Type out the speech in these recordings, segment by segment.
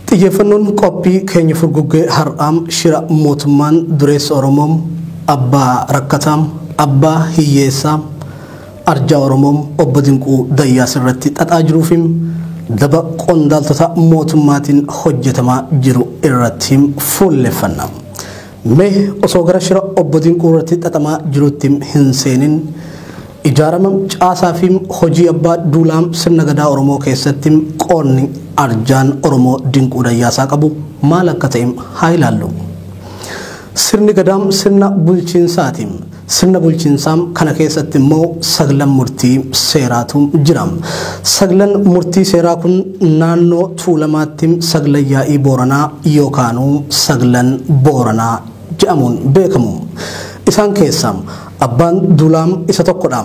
Xiyyeeffannoon qophii keenya furguggee har'aam shira mootummaan dureessa Oromoom abbaa rakkataam abbaa hiyyeessaa arjaa Oromoom obbo Dinquu Dayyaas irratti xaxaa jiruufiim daba qondaaltota mootummaatiin hojjetamaa jiru irratti fuulleffanna. Mee osoo gara shira obbo Dinquu irratti xaxamaa jirutti hin seenin ijaarama caasaa fi hojii abbaa duulaa sirna gadaa Oromoo keessatti qoonni arjaan Oromoo Dinquu Dayyaasaa qabu maal akka ta'e haa ilaallu. Sirni gadaa sirna bulchiinsaati. Sirna bulchiinsaa kana keessatti immoo saglan murtii seeraatu jira. Saglan murtii seeraa kun naannoo Tuulamaatti saglan yaa'ii Booranaa yookaanuu saglan Booranaa jedhamuun beekamu. Isaan keessaa Abbaan Duulaa isa tokkodha.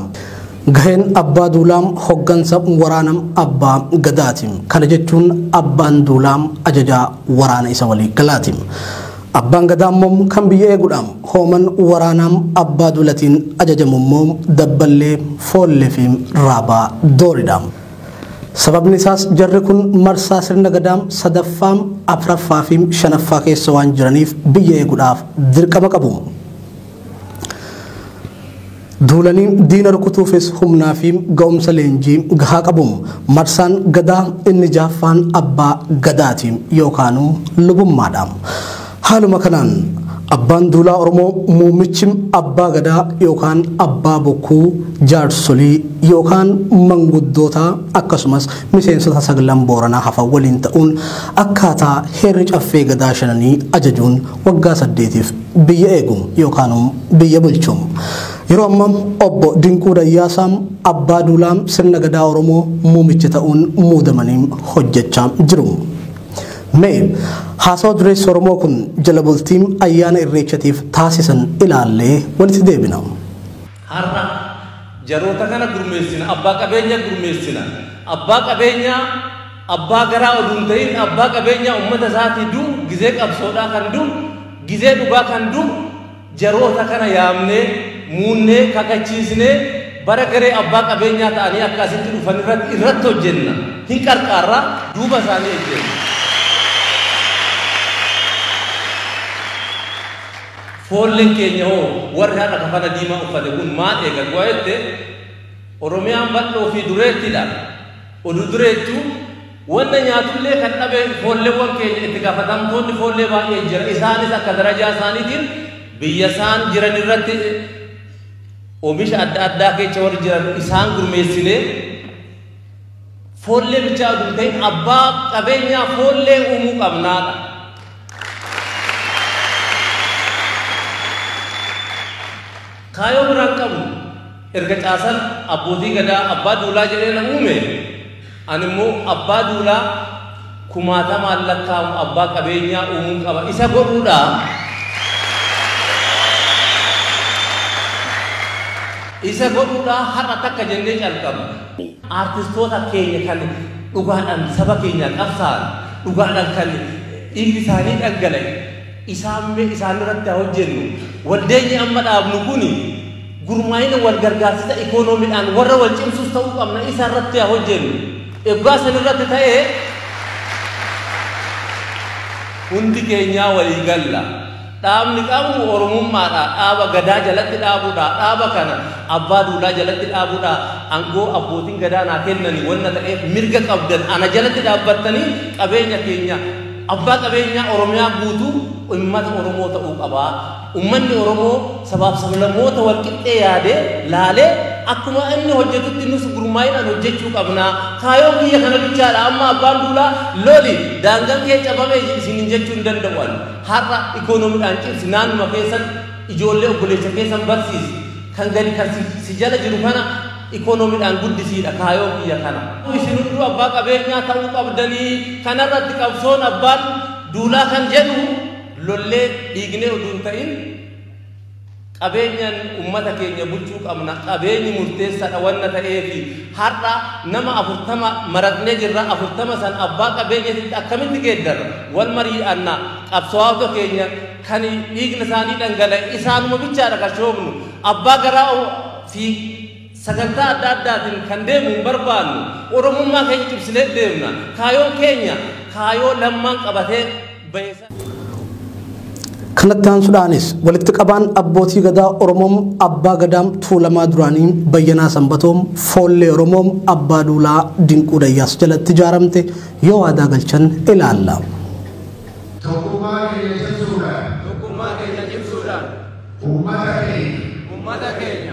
Gaheen Abbaa Duulaa hoggansa waraana Abbaa Gadaati. Kana jechuun Abbaan Duulaa ajajaa waraana isa waliigalaati. Abbaan Gadaa immoo kan biyya eegudha. Hooman waraanaa abbaa duulatiin ajajamu immoo dabballee, foollee fi raabaa dooridha. Sababni isaas jarri kun marsaa sirna Gadaa sadaffaa, afraffaa fi shanaffaa keessa waan jiraniif biyya eeguudhaaf dirqama qabu. Duulanii diina rukutuufis humnaa fi ga'umsa leenjii gahaa qabu. Marsaan Gadaa inni jahaffaan Abbaa Gadaati yookaanu Lubummaadha. Haaluma kanaan, Abbaan Duulaa Oromoo muummichi Abbaa Gadaa yookaan Abbaa Bokkuu jaarsolii yookaan manguddoota akkasumas miseensota saglan Booranaa hafan waliin ta'uun akkaataa heerri Caffee Gadaa shananii ajajuun waggaa saddeetiif biyya eegu yookaan biyya bulchu. Yeroo amma Obbo Dinquu Dayyaasaa Abbaa Duulaa Sirna Gadaa Oromoo muumicha ta'uun muudamanii hojjechaa jiru. Mee haasawa dureessi Oromoo kun jala bultii ayyaana Irreechatiif taasisan ilaallee walitti deebina. Har'a jaroota kana gurmeessina, abbaa qabeenyaa gurmeessina. Abbaa qabeenyaa abbaa garaa oduu hin ta'in abbaa qabeenyaa uummata isaatii du'u gizee qabsoodhaa kan du'u gizee dhugaa kan du'u jaroota kana yaamnee muunnee kakachiisnee bara garee abbaa qabeenyaa ta'anii akka asitti dhufan irratti irratti hojjenna. Hin qarqaarraa duuba isaanii ejjenna. Foolleen keenya hoo warri har'a kafana diimaa uffate kun maal eega du'a jette? Oromiyaan bal'oo fi dureettidha. Oduu dureettuu wanna nyaatullee kan dhabe foolleewwan keenya itti gaafatamtoonni foollee baay'een jira. Isaanis akka darajaa isaaniitiin biyya isaan jiran irratti oomisha adda addaa keessa warri jiran isaan gurmeessinee foollee bichaa oduu ta'in abbaa qabeenyaa foollee uumuu qabnaadha. Kaayoo biraa hin qabu. Erga caasaan abbootii gadaa abbaa duulaa jedhee na uume, ani immoo abbaa duulaa kumaatamaan lakkaa'amu abbaa qabeenyaa uumuun qaba. Isa godhuudha. Isa godhuudha har'a takka jennee calqabna. Aartistoota keenya kan dhugaadhaan saba keenyaaf qabsaa'an, dhugaadhaan kan dhiigni isaanii dhangala'e isaan mee isaan irratti haa hojjennu. Waldeenyi amma dhaabnu kun gurmaa'ina wal gargaarsisa ikoonoomidhaan warra wal cimsus ta'uu qabna isa irratti haa hojjennu. Egaa san irratti ta'e hundi keenyaa walii galla. Dhaabni qabnu Oromummaadha, dhaaba Gadaa jalatti dhaabudha, dhaaba kana Abbaa Duulaa jalatti dhaabudha, angoo Abbootiin Gadaa naa kennani wanna ta'eef mirga qabdan ana jalatti dhaabbattanii qabeenya keenya Abbaa qabeenyaa Oromiyaa guutuu ummata Oromoo ta'uu qaba. Ummanni Oromoo sabaaf sablammoota walqixxee yaadee laalee akkuma inni hojjetutti nus gurmaa'inaan hojjechuu qabna. Kaayoon kiyya kana bichaadha amma Abbaan Duulaa loli daangan kee cabame isinin jechuu hin danda'u ani. Har'a economidhaan cimsi naannuma keessan ijoollee obboleessa keessan barsiisi kan gadi kan si si jala jiru kana economidhaan guddisiidha kaayoo kiyya kana. Isin hunduu abbaa qabeenyaa ta'uu qabdanii kanarratti qabsoon abbaan duulaa kan jedhu lollee dhiignee oduu hin ta'in, Qabeenyan ummata keenya bulchuu qabna. Qabeenyi murteessadha wanna ta'eefi har'a nama 40 maratnee jirra. 40 san abbaa qabeenyatitti akkamitti geeddarra? Wal marii'anna. Qabsawaawota keenya kan dhiigna isaanii dhangala'e isaanuma bichaadha kan shoofnu. Abbaa garaa fi. Sagantaa adda addaatiin kan deemu hin barbaannu. Oromummaa keenya cimsinee deemna. Kaayoon keenya kaayoo lammaan qabatee bahe sana. Kanatti aansuudhaanis walitti qabaan abbootii gadaa Oromoo Abbaa Gadaam Tuulamaa duraanii Bayyanaa Sanbatoom Foollee Oromoo Abbaa Duulaa Dinquu Dayyaas jalatti ijaaramte yoo waadaa galchan ilaalla. Tokkummaa keenya cimsuudhaan Tokkummaa keenya cimsuudhaan uummata keenya uummata keenya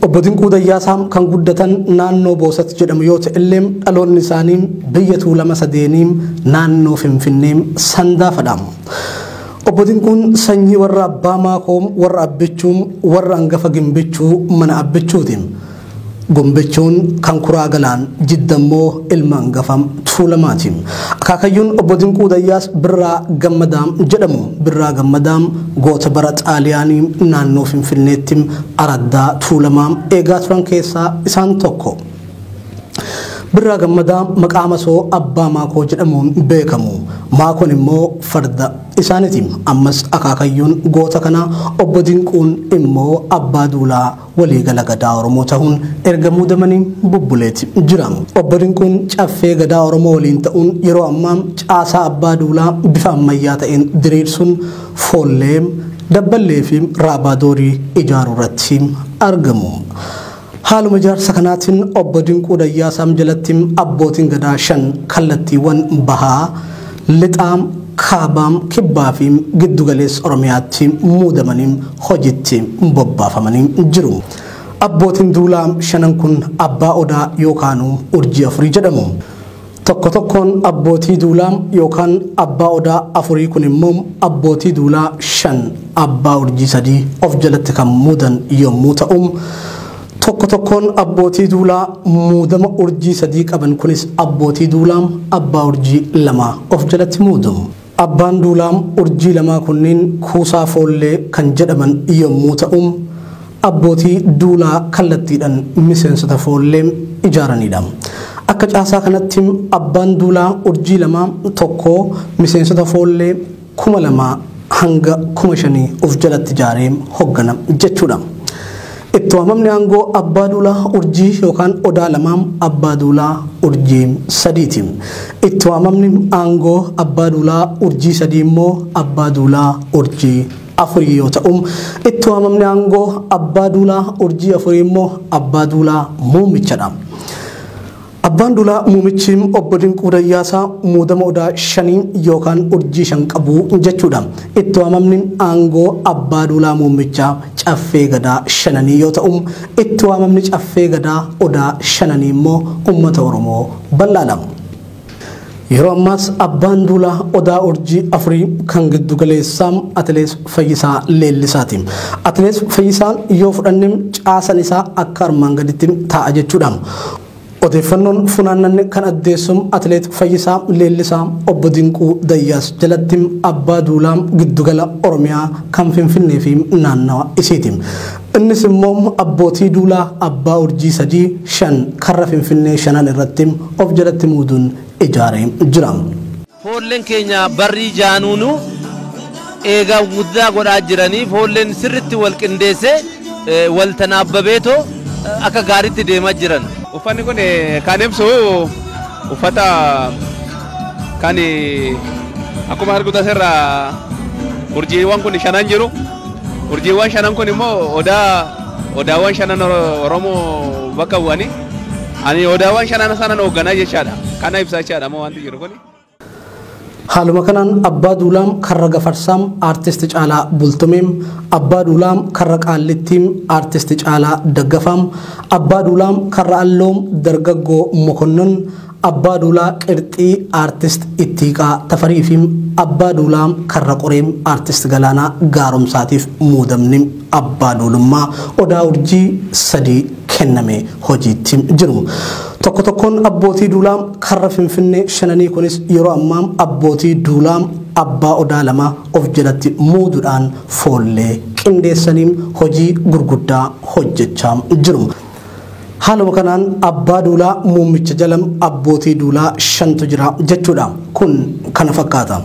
Obbo Dinquu Dayyaasaa kan guddatan naannoo Boosat jedhamu yoo ta'ellee dhaloonni isaanii biyya Tuulama Sadeenii naannoo Finfinnee Sandaafadha. Obbo Dinquun sanyii warra Abbaa Maakoo, warra Abbichuu, warra Angafa Gimbichuu mana Abbichuuti. Gombichuun kan Kuraa Galaan, Jidda immoo ilma hangafa Tuulamaati. Akaakayyuun obbo Dinquu Dayyaas Birraa Gammadaa jedhamu. Birraa Gammadaa goota bara Xaaliyaanii naannoo Finfinneetti araddaa Tuulamaa eegaa turan keessaa isaan tokko. Birraa Gammadaa maqaa masoo abbaa maakoo jedhamuun beekamu. Maakoon immoo farda isaaniiti. Ammas akaakayyuun goota kanaa obbo Dinquun immoo abbaa duulaa Waliigala Gadaa Oromoo tahuun erga muudamanii bubbuleeti jira. Obbo Dinquun Caffee Gadaa Oromoo waliin ta'uun yeroo ammaa caasaa Abbaa Duulaa bifa ammayyaa ta'een diriirsuun Foollee, Dabballee fi Raabaa Doorii ijaaruu irratti argamu. Haaluma ijaarsa kanaatiin Obbo Dinquu Dayyaasaam jalatti Abbootiin Gadaa shan kallattiiwwan Bahaa, Lixaa, Kaaba, Kibbaa fi Giddu Galeessa Oromiyaatti muudamanii hojiitti bobbaafamanii jiru. Abbootiin duulaa shanan kun Abbaa Odaa yookaanuu Urjii Afurii jedhamu. Tokko tokkoon abbootii duulaa yookaan Abbaa Odaa Afurii kun immoo abbootii duulaa shan Abbaa Urjii sadii of jalatti kan muudan yommuu ta'u, Tokko tokkoon abbootii duulaa muudama urjii sadii qaban kunis abbootii duulaam abbaa urjii lamaa of jalatti muudu. Abbaan duulaam urjii lamaa kunniin kuusaa foollee kan jedhaman yommuu ta'u abbootii duulaa kallattiidhan miseensota foollee ijaaraniidha. Akka caasaa kanatti abbaan duulaa urjii lamaa tokkoo miseensota foollee kuma lamaa hanga kuma shanii of jalatti ijaaree hoggana jechuudha. Itti waamamni aangoo abbaa duulaa urjii yookaan odaa lamaa abbaa duulaa urjii sadiiti. Itti waamamni aangoo abbaa duulaa urjii sadii immoo abbaa duulaa urjii afurii yoo ta'u, itti waamamni aangoo abbaa duulaa urjii afurii immoo abbaa duulaa muummichadha. Abbaan Duulaa muumichi obbo Dinquu Dayyaasaa muudama odaa shanii yookaan urjii shan qabu jechuudha. Itti waamamni aangoo Abbaa Duulaa muummichaa Caffee Gadaa shananii yoo ta'u, itti waamamni Caffee Gadaa odaa shananii immoo uummata Oromoo bal'aadha. Yeroo ammaas abbaan duulaa Odaa Urjii afurii kan giddu galeessaa Atilees Fayyisaa Leellisaati. Atilees Fayyisaan yoo fudhanne caasan isaa akka armaan gaditti taa'a jechuudha. Odeeffannoon funaannanne kan addeessu Atileet Fayyisaa Leellisaa Obbo Dinquu Dayyaas jalatti abbaa duulaa giddugala Oromiyaa kan Finfinnee fi naannawa isiiti. Innis immoo abbootii duulaa abbaa urjii sadii, shan, karra Finfinnee shanan irratti of jalatti muuduun ijaaree jira. Foolleen keenya barrii jaanuu nu eega guddaa godhaa jiranii foolleen sirritti wal qindeesse wal tanaabbabeetoo akka gaaritti deema jiran. Uffanni kun kan ibsu uffata kan akkuma arguu tasirra urjiiwwan kun shanan jiru. Urjiiwwan shanan kun immoo odaa odaawwan shanan Oromoo bakka bu'ani. Ani odaawwan shanan sanan hoogganaa jechaadha. Kana ibsaa jechaadha moo wanti jiru kuni. Haaluma kanaan Abbaa Duulaam Karra Gafarsaam Artist Caalaa Bultumeem, Abbaa Duulaam Karra Qaallittiim Artist Caalaa Daggafaam, Abbaa Duulaam Karra Alloom Dargaggoo Mokonnon, Abbaa Duulaa Qirxii Artist Ittiiqaa Tafarii fi Abbaa Duulaa Karra Qoree Artist Galaanaa Gaaromsaatiif muudamni Abbaa Duulummaa Odaa Urjii sadii kenname hojiitti jiru. Tokko tokkoon Abbootii Duulaa Karra Finfinnee shananii kunis yeroo ammaa Abbootii Duulaa Abbaa Odaa lama of jalatti muududhaan foollee qindeessanii hojii gurguddaa hojjechaa jiru. Haaluma kanaan abbaa duulaa muummicha jala abbootii duulaa shantu jira jechuudha. Kun kana fakkaata.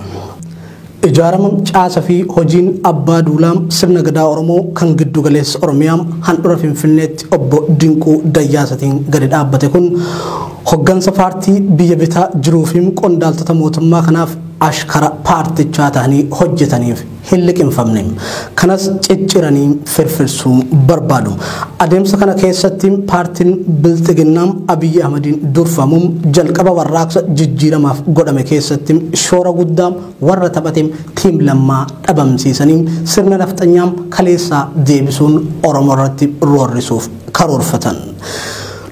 Ijaarama, caasa fi hojiin abbaa duulaa sirna gadaa Oromoo kan giddu galeessa Oromiyaa handhura Finfinneetti obbo Dinquu Dayyaasatiin gadi dhaabbate kun hoggansa paartii biyya bitaa jiruu fi qondaaltota mootummaa kanaaf ashkara paartichaa tahanii hojjetaniif hin liqimfamne. Kanas cicciranii firfirsuu barbaadu. Adeemsa kana keessatti paartiin Bilxiginnaa Abiyyi Ahmadiin durfamu jalqaba warraaqsa jijjiiramaaf godhame keessatti shoora guddaa warra taphate Tiim Lammaa dhabamsiisanii sirna nafxanyaa kaleessaa deebisuun Oromoo irratti roorrisuuf karoorfatan.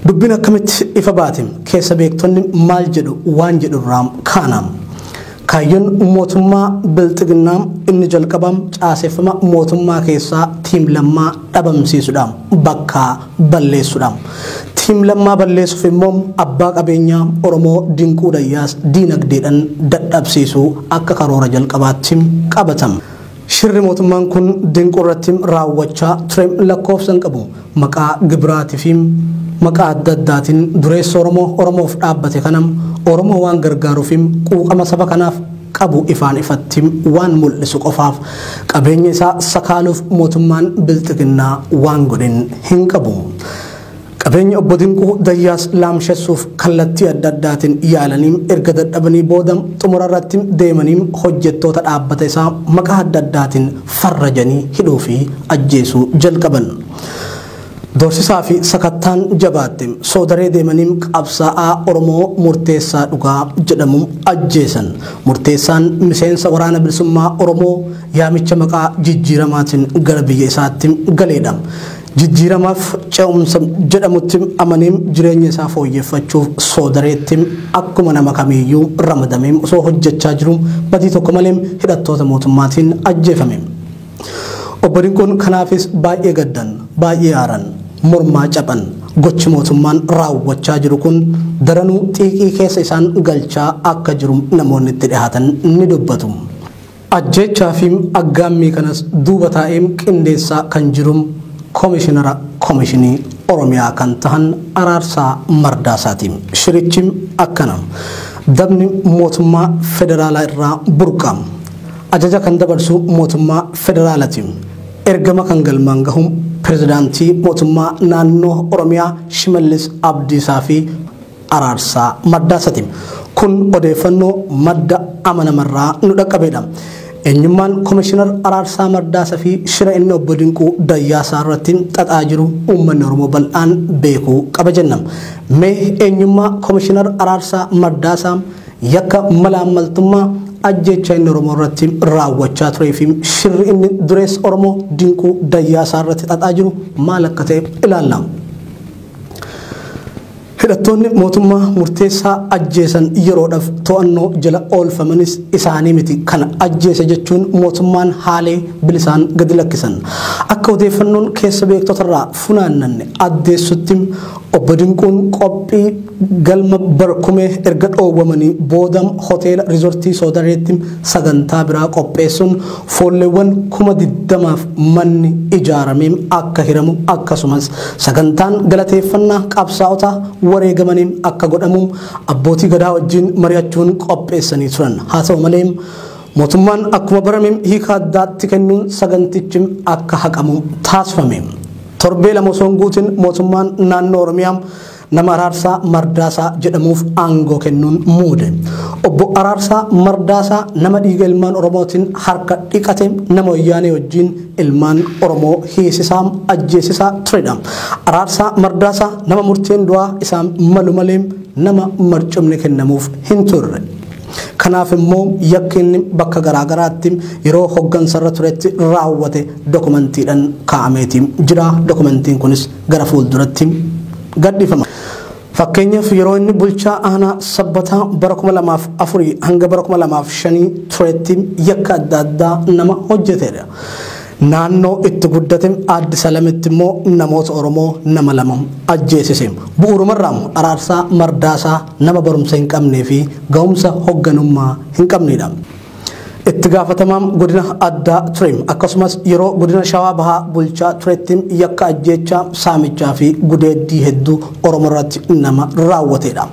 Dubbiin akkamitti ifa baate? Keessa beektonni maal jedhu waan jedhurraa kaana. Kaayyoon mootummaa Bilxiginnaa inni jalqaba caaseffama mootummaa keessaa Tiim Lammaa dhabamsiisudha. Bakka balleessudha. Tiim Lammaa balleessuuf immoo abbaa qabeenyaa Oromoo Dinquu Dayyaas diinagdeedhaan dadhabsiisuu akka karoora jalqabaatti qabatama. Shirri mootummaan kun Dinquu irratti raawwachaa ture lakkoofsa hin qabu. Maqaa gibiraatii fi maqaa adda addaatiin dureessa Oromoo Oromoof dhaabbate kana Oromoo waan gargaaruu fi quuqama saba kanaaf qabu ifaan ifatti waan mul'isu qofaaf qabeenya isaa sakaaluuf mootummaan Bilxiginnaa waan godhe hin qabu. Qabeenya Obbo Dinquu Dayyaas laamshessuuf kallattii adda addaatiin yaalanii erga dadhabanii booda xumura irratti deemanii hojjettoota dhaabbata isaa maqaa adda addaatiin farrajanii hidhuu fi ajjeesuu jalqaban. Doorsisaa fi sakattaan jabaatte. Soodaree deemanii qabsaa'aa Oromoo Murteessaa Dhugaa jedhamu ajjeesan. Murteessaan miseensa waraana bilisummaa Oromoo yaamicha maqaa jijjiiramaatiin gara biyya isaatti galeedha. Jijjiiramaaf ce'umsa jedhamutti amanee jireenya isaa fooyyeffachuuf soodareetti akkuma nama kamiiyyuu ramadamee osoo hojjechaa jiruu badii tokko malee hidhattoota mootummaatiin ajjeefame. Obbo Dinquun kanaafis baay'ee gaddan, baay'ee aaran, mormaa caphan. Gochi mootummaan raawwachaa jiru kun daranuu xiiqii keessa isaan galchaa akka jiru namoonni itti dhihaatan ni dubbatu. Ajjeechaa fi aggaammii kanas duuba taa'ee qindeessaa kan jiru Komishinara Komishinii Oromiyaa kan tahan Araarsaa Mardaasaati. Shirichi akkana. Dabni mootummaa federaalaa irraa burqa. Ajaja kan dabarsu mootummaa federaalati. Ergama kan galmaan gahu pirezidaantii mootummaa naannoo Oromiyaa Shimallis Abdiisaa fi araarsaa maddaasati. Kun odeeffannoo madda amanamarraa nu dhaqqabeedha. Eenyummaan Komishinar Araarsaa Mardaasa fi shira inni Obbo Dinquu Dayyaasaa irratti xaxaa jiru uummanni Oromoo bal'aan beekuu qaba jenna. Mee eenyummaa Komishinar Araarsaa Mardaasaa, yakka malaammaltummaa, ajjeechaa inni Oromoo irratti raawwachaa turee fi shirri inni dureessa Oromoo Dinquu Dayyaasaa irratti xaxaa jiru maal akka ta'e ilaalla. Hidhattoonni mootummaa murteessaa ajjeesan yeroodhaf to'annoo jala oolfamanis isaanii miti kan ajjeese jechuun mootummaan haalee bilisaan gadi lakkisan. Akka odeeffannoon keessa beektotarraa funaannanne addeessutti Obbo Dinquun qophii galma Barkumee erga dhoowwamanii booda hoteela Rizortii Soodareetti sagantaa biraa qopheessuun foolleewwan kuma 20f manni ijaaramee akka hiramu akkasumas Sagantaan galateeffannaa qabsaa'ota wareegamaniin akka godhamu abbootii gadaa wajjin mari'achuun qopheessanii turan. Haa ta'u malee mootummaan akkuma barame hiika addaatti kennuun sagantichi akka haqamu taasifame. Torbee lama osoo hin guutin mootummaan naannoo Oromiyaa Nama Araarsaa Mardaasaa jedhamuuf aangoo kennuun muude. Obbo Araarsaa Mardaasaa nama dhiiga ilmaan Oromootiin harka dhiqate nama wayyaanee wajjin ilmaan Oromoo hiisisaa ajjeesisaa turedha. Araarsaa Mardaasaa nama murteen du'aa isaan malu malee nama marcumni kennamuuf hin turre. Kanaaf immoo yakki inni bakka garaagaraatti yeroo hoggansarra turetti raawwate dokumantiidhaan kaa'ameeti jira. Dokumantiin kunis gara fuulduratti gadhifama. Fakkeenyaaf yeroo inni bulchaa aanaa sabbataa bara 2004 hanga bara 2005 turetti yakka adda addaa nama hojjeteedha. Naannoo itti guddate Aaddi Salamitti immoo namoota Oromoo nama lama ajjeesise. Bu'uurumarraa araarsaa mardaasaa nama barumsa hin qabnee fi ga'umsa hogganummaa hin qabneedha. Itti gaafatamaan godina addaa ture akkasumas yeroo godina shawaa bahaa bulchaa turetti yakka ajjeechaa saamichaa fi gudeeddii hedduu oromoo irratti nama raawwateedha.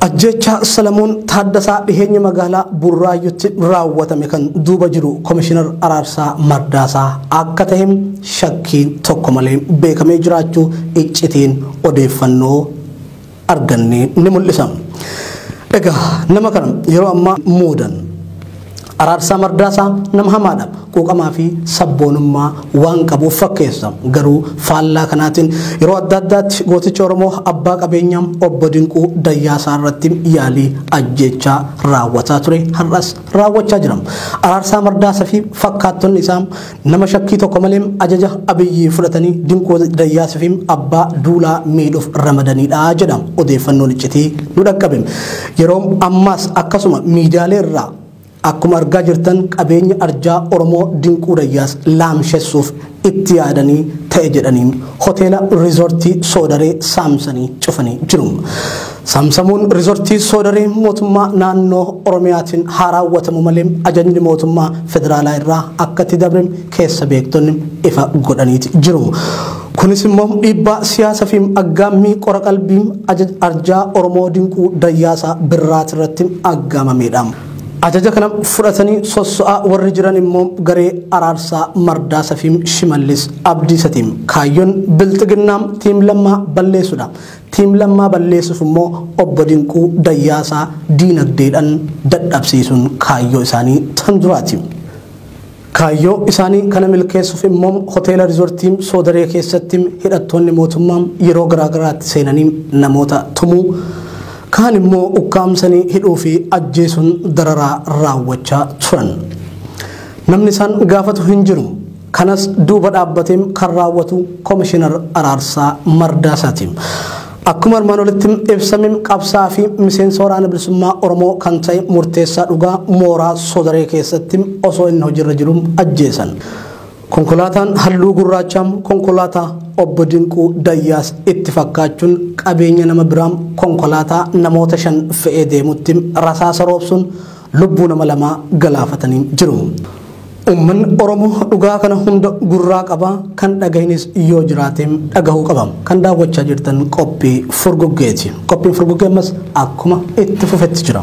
Ajjeechaa Salamoon Taaddasaa dhiheenya magaalaa Burraayyutti raawwatame kan duuba jiru Komishinar Araarsaa Mardaasaa akka ta'e shakkii tokko malee beekamee jiraachuu iccitiin odeeffannoo arganne ni mul'isa. Egaa nama kana yeroo ammaa muudan Araarsaa Mardaasaa nama hamaadha. Quuqamaa fi sabboonummaa waan qabuuf fakkeessa. Garuu faallaa kanaatiin yeroo adda addaatti gooticha Oromoo abbaa qabeenyaa obbo Dinquu Dayyaasaa irratti yaalii ajjeechaa raawwataa ture har'as raawwachaa jira. Araarsaa Mardaasaa fi fakkaattonni isaa Nama shakkii tokko malee ajaja Abiyyi fudhatanii Dinquu Dayyaas fi abbaa duulaa miidhuuf ramadaniidha jedha odeeffannoon iccitii nu dhaqqabe. Yeroo ammaas akkasuma miidiyaalee irraa akkuma argaa jirtan qabeenya arjaa Oromoo Dinquu Dayyaas laamshessuuf itti yaadanii ta'e jedhanii hoteela riizortii Soodaree saamsanii cufanii jiru. Samsamuun Riizortii Soodarii mootummaa naannoo Oromiyaatiin haa raawwatamu malee ajajni mootummaa federaalaa irraa akka itti dabre keessa beektonni ifa godhaniiti jiru. Kunis immoo dhiibbaa siyaasa fi aggaammii qora qalbii ajaj arjaa Oromoo dinquu dayyaasaa birraati irratti aggaamameedha. Ajaja kana fudhatanii sosso'aa warri jiran immoo garee araarsaa mardaasa fi shimallis abdiisatiin kaayyoon bilxiginnaa tiim lammaa balleessuudha. Team Lammaa balleessuuf immoo Obbo Dinquu Dayyaasaa diinagdeedhan dadhabsiisuun kaayyoo isaanii tan duraati. Kaayyoo isaanii kana milkeessuuf immoo Hoteela Rizortii Soodaree keessatti hidhattoonni mootummaa yeroo garaagaraatti seenanii namoota tumuu, kaan immoo ukkaamsanii hidhuu fi ajjeesuun dararaa raawwachaa turan. Namni isaan gaafatu hin jiru. Kanas duuba dhaabbateem kan raawwatu Komishinar Araarsaa Mardaasaati. Akkuma armaan olitti ibsame qabsaa fi miseensa waraana bilisummaa Oromoo kan ta'e murteessaa dhugaa mooraa sodaree keessatti osoo inni hojiirra jiru ajjeesan. Konkolaataan halluu gurraachaa konkolaataa obbo Dinquu Dayyaas itti fakkaachuun qabeenya nama biraa konkolaataa namoota shan fe'ee deemutti rasaasa roobsuun lubbuu nama lamaa galaafatanii jiru. Ummanni Oromoo dhugaa kana hunda gurraa qaba, kan dhagahinis yoo jiraate dhagahuu qaba. Kan daawwachaa jirtan qophii furguggeeti. Qophiin furguggee ammas akkuma itti fufetti jira.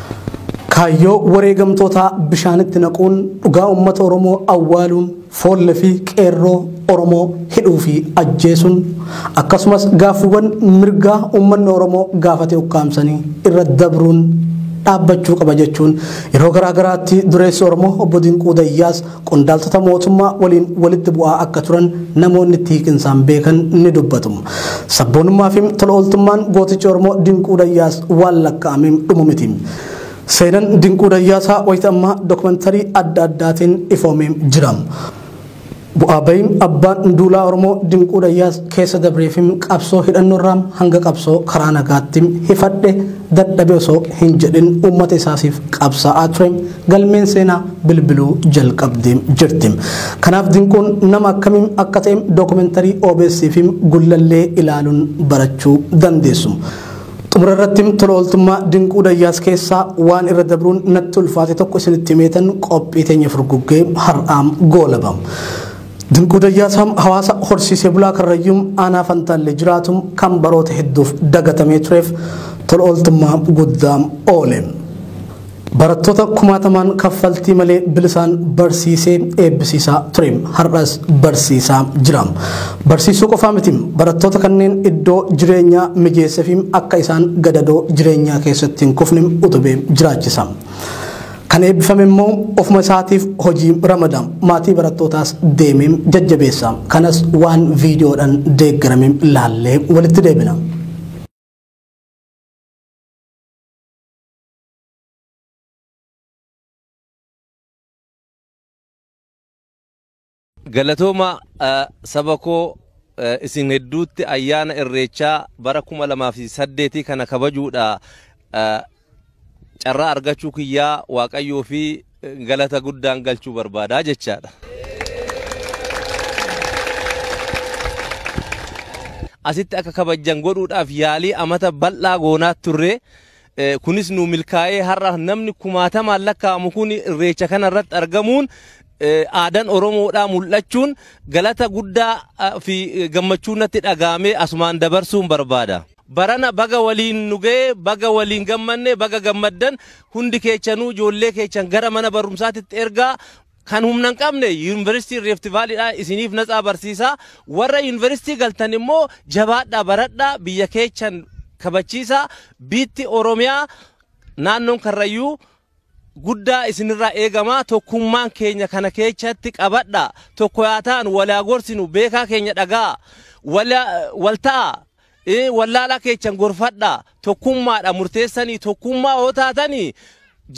Kaayyoo wareegamtootaa bishaanitti naquun dhugaa uummata Oromoo awwaaluun foolle fi qeerroo Oromoo hidhuu fi ajjeesuun akkasumas gaaffiwwan mirgaa uummanni Oromoo gaafate ukkaamsanii irra dabruun dhaabbachuu qaba jechuun yeroo garaa garaatti dureessi Oromoo obbo Dinquu Dayyaas qondaaltota mootummaa waliin walitti bu'aa akka turan namoonni itti hiiqinsaan beekan ni dubbatu. Sabboonummaa fi tola ooltummaan gooticha Oromoo Dinquu Dayyaas waan lakkaa'amee dhumu miti. Seenan Dinquu Dayyaasaa wayita ammaa dookumantarii adda addaatiin ifoomee jira. Bu'aa bahiin abbaan duulaa Oromoo Dinquu Dayyaas keessa dabree fi qabsoo hidhannoorraa hanga qabsoo karaa nagaatti hifadhe dadhabe osoo hin jedhin uummata isaasiif qabsaa'aa ture galmeen seenaa bilbiluu jalqabdee jirti. Kanaaf Dinquun nama akkamiin akka ta'e dookumentarii OBS fi Gullallee ilaaluun barachuu dandeessu. Xumura irratti tola ooltummaa Dinquu Dayyaas keessaa waan irra dabruun natti ulfaate tokko isinitti himeetan qophii teenya furguggee har'aam goolaba. Dinquu Dayyaasaan hawaasa horsiisee bulaa karrayyuum aanaa fantaallee jiraatu kan baroota hedduuf dagatamee tureef tola ooltummaa guddaa oole. Barattoota kumaatamaan kaffaltii malee bilisaan barsiisee eebbisiisaa ture. Har'as barsiisaa jira. Barsiisuu qofaa miti barattoota kanneen iddoo jireenyaa mijeessefi akka isaan gadadoo jireenyaa keessatti hin kufne utubee jiraachisa. Kan eebbifame immoo ofuma isaatiif hojii ramada. Maatii barattootaas deemee jajjabeessa. Kanas waan viidiyoodhaan deeggarame laallee walitti deebina. Galatooma saba koo isin hedduutti ayyaana irreechaa bara kuma lamaa fi saddeetii kana kabajuudha carraa argachuu kiyyaa waaqayyoo fi galata guddaan galchuu barbaadaa jechaadha. Asitti akka kabajjan godhuudhaaf yaalii amata bal'aa goonaat turre Kunis nuu milkaa'ee har'a namni kumaatamaan lakkaa'amu kun irreecha kana irratti argamuun aadaan Oromoodhaa mul'achuun galata guddaa fi gammachuun natti dhagaamee asumaan dabarsuun barbaada. Barana baga waliin nu ga'ee, baga waliin gammanne, baga gammaddan hundi keechanuu ijoollee keechan gara mana barumsaatitti ergaa Kan humna hin qabne Yuunivarsiitii Riifti Vaaliidhaa isiniif natsaa barsiisaa. Warra Yuunivarsiitii galtan immoo jabaadhaa baradhaa biyya keechan kabachiisaa. Biitti Oromiyaa naannoon Karrayyuu guddaa isinirraa eegama. Tokkummaan keenya kana keechatti qabadhaa. Tokko yaa taanu wal yaa gorsinu beekaa keenya dhaga'aa. Wal yaa- wal ta'aa. Ee wallaalaa keechan gorfadhaa tokkummaadha murteessanii tokkummaa yoo taatanii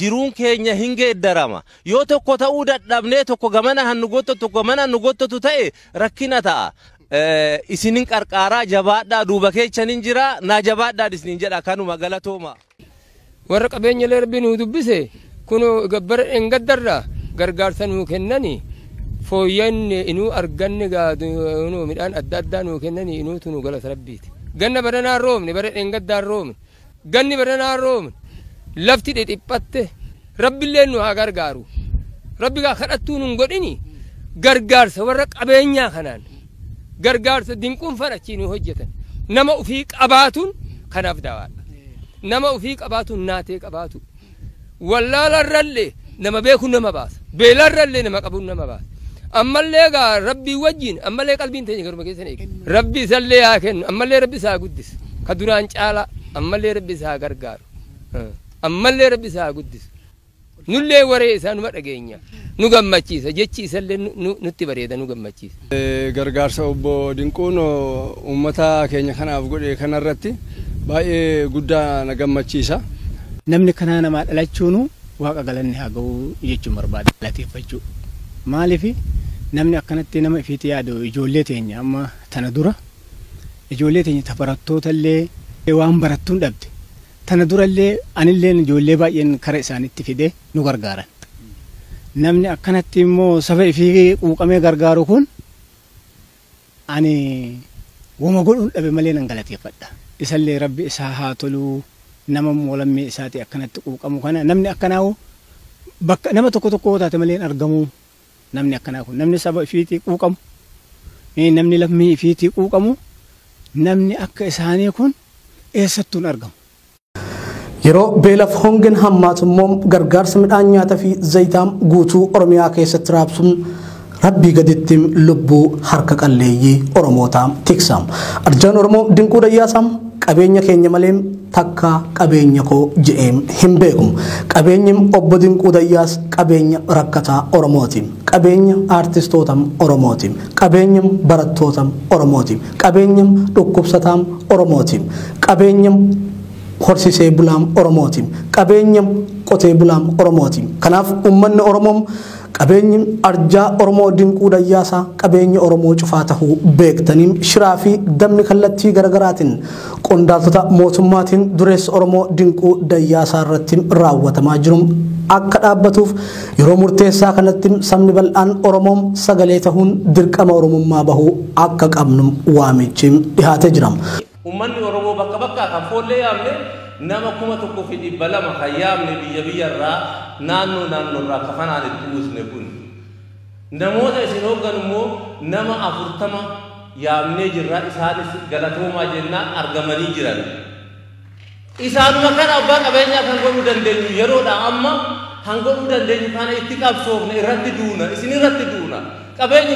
jiruun keenya hin geeddarama yoo tokko ta'uu dadhabnee tokko gamana han nu gottatu tokko gamana han nu gottatu ta'e rakkina ta'a Eh, isinin qarqaaraa jabaadhaa duuba keechan hin jiraa naa jabaadhaan isinin jedha kanuma galatooma. Warra qabeenyalee rabbi nuu dubbise kunoo ega bara dheengaddarraa gargaarsa nuu kennani fooyyanne inuu arganne gaa kunoo midhaan adda addaa nuu kennani inuu tunu galata rabbiiti. Ganna baranaa hin roobne bara dheengaddaa hin roobne ganni baranaa hin roobne lafti dhidhiphatte rabbilleen nu haa gargaaru rabbi gaa kadhattuu nun godhini gargaarsa warra qabeenyaa kanaan. gargaarsa dinquunfaan achii nuu hojjetan nama ufii qabaatuun kanaaf daawaadha nama ufii qabaatuun naatee qabaatu wallaalarrallee nama beekuun nama baasa beelarrallee nama qabuun nama baasa ammallee gaa rabbii wajjiin ammallee qalbiin teenya garuma keessan eege rabbi isallee haa kennu ammallee rabbi isaa guddisu ka duraan caalaa ammallee rabbi isaa gargaaru ammallee rabbi isaa guddisu Nullee waree isaa numa dhageenya. Nu gammachiisa. Jechi isallee nutti bareeda nu gammachiisa. Gargaarsa Obbo Dinquun uummata keenya kanaaf godhe kanarratti baay'ee guddaa na gammachiisa. Namni kanaa namaa dhalachuunu Waaqa galanni haa ga'u jechuun barbaada. Galateeffachuu. Maaliif namni akkanatti nama ifiitti yaadu ijoollee teenya amma tana dura ijoollee teenya ta barattootallee waan barattu hin dhabde. Tana durallee anilleen ijoollee baay'een kara isaanitti fidee nu gargaaran. Namni akkanatti immoo saba ifii quuqamee gargaaru kun ani woma godhuun dhabe malee nan galateeffadha. Isallee Rabbi isaa haa tolu nama immoo lammii isaatii akkanatti quuqamu kana namni akkanaa hoo bakka nama tokko tokko yoo taate malee hin argamu. Namni akkanaa kun namni saba ifiitii quuqamu, namni lammii ifiitii quuqamu, namni akka isaanii kun eessattuu hin argamu. Yeroo beelaf hongen hammaatu immoo gargaarsa midhaan nyaata fi zayitaa guutuu Oromiyaa keessatti raabsu Rabbii gaditti lubbuu harka qalleeyyii Oromootaa tiksa. Arjaan Oromoo Dinquu Dayyaasaa qabeenya keenya malee takkaa qabeenya koo je'ee hin beeku. Qabeenyi Obbo Dinquu Dayyaas qabeenya rakkataa Oromooti. Qabeenya aartistoota Oromooti. Qabeenya barattoota Oromooti. Qabeenya dhukkubsataa Oromooti. Qabeenya horsisee bulaa Oromooti. Qabeenya qotee bulaa Oromooti. Kanaaf ummanni Oromoo. Qabeenyi arjaa Oromoo dinquu dayyaasaa qabeenya Oromoo cufaa tahuu beektanii shiraa fi dabni kallattii garagaraatiin qondaaltota mootummaatiin dureessa Oromoo dinquu dayyaasaa irratti raawwatamaa jiru akka dhaabbatuuf yeroo murteessaa kanatti sabni bal'aan Oromoo sagalee tahuun dirqama Oromummaa bahuu akka qabnu waamichi dhihaatee jira. Ummanni Oromoo bakka bakkaa kan foollee yaamne nama 1200 kan yaamne biyya biyya irraa naannoo naannoo irraa kafanaan itti uwwisne kun namoota isin hoogganu immoo nama 40 yaamnee jirra isaanis galatoomaa jennaan argamanii jiran. Isaanuma kana abbaa qabeenyaa kan godhuu dandeenyu yeroodha amma kan godhuu dandeenyu kana itti qabsoofne irratti duuna isin irratti duuna qabeenyi